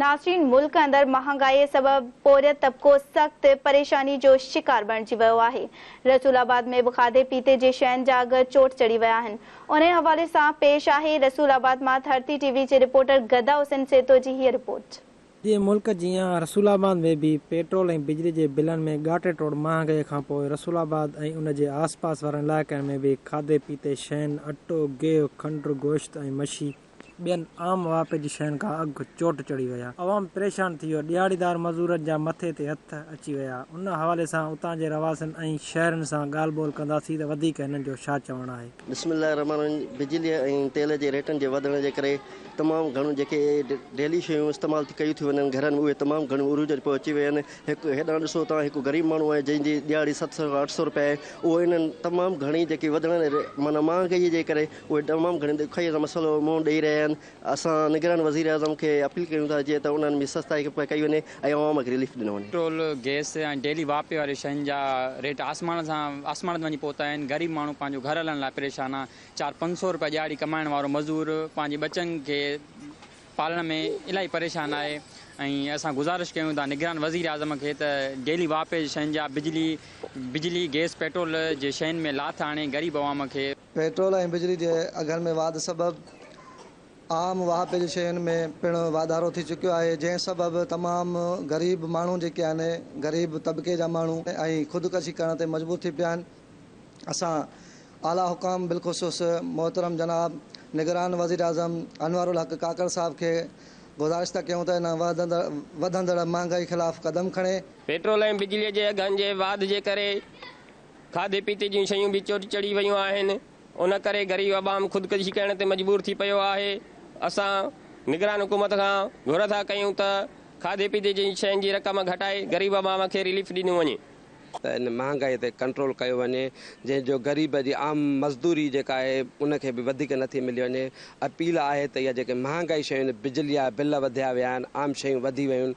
ناظرين ملڪ اندر مهانگائي سبب پورهيت طبقو سخت پريشاني جو شڪار بڻجي ويو آهي رسول آباد ۾ به کاڌي پيتي جي شين جا اگهه چوٽ چڙهي ويا آهن انهي حوالي سان پيش آهي رسول آباد مان ڌرتي ٽي وي جي رپورٽر گدا حسين سيتو جي هيء رپورٽ. سڄي ملڪ جيان رسول آباد ۾ به پيٽرول ۽ بجلي جي بلن ۾ ڳاٽي ٽوڙ مهانگائي کانپوء رسول آباد ۽ ان جي آس پاس وارن علائقن ۾ به کاڌي پيتي شين اٽو، گيهه، کنڊ، گوشت ۽ مڇي، ٻين عام واهپي جي شين کان اگهه چوٽ چڙهي ويا. عوام پريشان ٿي ويو. ڏيهاڙيدار مزورن جا مٿي تي هٿ اچي ويا. ان حوالي سان اتان جي رهواسين ۽ شهرين سان ڳالهه ٻولهه ڪنداسين ته وڌيڪ هنن جو ڇا چوڻ آهي. بسم الله الرحمٰن الرحيم بجلي ۽ تيل جي ريٽن جي وڌڻ جي ڪري تمام گهڻيون جيڪي ڊيلي شيون استعمال ڪيون ٿيون وڃن گهرن ۾ اهي تمام گهڻيون عروج تي پهچي ويون آهن هڪ هيڏانهن ڏسو تان هڪ غريب ماڻهو آهي جنهن جي ڏيهاڙي ست سئو کان اٺ سئو روپيا آهي اهو انهن تمام گهڻي جيڪي وڌڻ معنيٰ مهانگائي جي ڪري اهي تمام گهڻي ڏکيائيء سان مسئلو منهن ڏئي رهيا آهن، اسان نگران وزيراعظم کي اپيل ڪريون ٿا جيئن ته انهن ۾ سستائي ڪئي وڃي ۽ عوام کي رليف ڏنو وڃي. پيٽرول، گئس ۽ ڊيلي واهپي واري شين جا ريٽ آسمان سان آسمان تي وڃي پهتا آهن، غريب ماڻهو پنهنجو گهر هلائڻ لاء پريشان آهن، چار پنج سئو روپيا ڏهاڙي ڪمائڻ وارو مزور پنهنجي ٻچن کي پالڻ ۾ الاهي پريشان آهي ۽ اسان گذارش ڪيون ٿا نگران وزيراعظم کي ته ڊيلي واهپي جي شين جا بجلي، گئس، پيٽرول جي شين ۾ لاٿ آڻي غريب عوام کي. پيٽرول ۽ بجلي جي اگهن ۾ واڌ سبب عام واهپي جي شين ۾ پڻ واڌارو ٿي چڪيو آهي جنهن سبب تمام غريب ماڻهو جيڪي آهن غريب طبقي جا ماڻهو ۽ خودڪشي ڪرڻ تي مجبور ٿي پيا آهن اسان اعليٰ حڪام بالخصوص محترم جناب نگران وزيراعظم انوارالحق ڪاڪڙ صاحب کي گذارشتا ڪيون ته ان وڌندڙ مهانگائي خلاف قدم کڻي. پيٽرول ۽ بجلي جي اگهن جي واڌ جي ڪري کاڌي پيتي جون شيون به چوٽ چڙهي ويون آهن، ان ڪري غريب عوام خودڪشي ڪرڻ تي مجبور ٿي پيو آهي، اسان نگران حڪومت کان گهر ٿا ڪيون ته کاڌي پيتي جي شين جي رقم گهٽائي غريب عوام کي رليف ڏنو وڃي. ته ان مهانگائي تي ڪنٽرول ڪيو وڃي، جنهن جو غريب جي عام مزدوري جيڪا آهي ان کي به وڌيڪ نه ٿي ملي وڃي، اپيل آهي ته اها جيڪي مهانگائي شيون بجلي جا بل وڌيا ويا آهن، عام شيون وڌي ويون،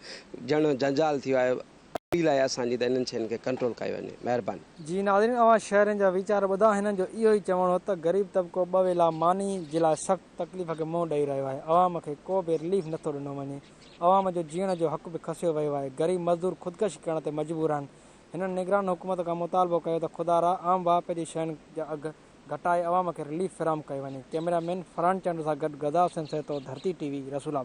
ڄڻ جنجال ٿي ويو آهي، اپيل آهي اسان جي ته انهن شين کي ڪنٽرول ڪيو وڃي مهرباني. جي ناظرين اوهان شهرين جا ويچار ٻڌا هنن جو اهو ئي چوڻ هو ته غريب طبقو ٻه ويلا ماني جي لاء سخت تڪليف کي منهن ڏئي رهيو آهي عوام کي ڪو به رليف نٿو ڏنو وڃي عوام جو جيئڻ جو حق به کسيو ويو آهي غريب مزدور خودڪشي ڪرڻ تي مجبور آهن هنن نگران حڪومت کان مطالبو ڪيو ته خدا را عام واهپي جي شين جا اگهه گهٽائي عوام کي رليف فراهم ڪيو وڃي ڪئميرا مين فرحان چانڊيو سان گڏ غذا حسين سهتو ڌرتي ٽي وي رسول آباد.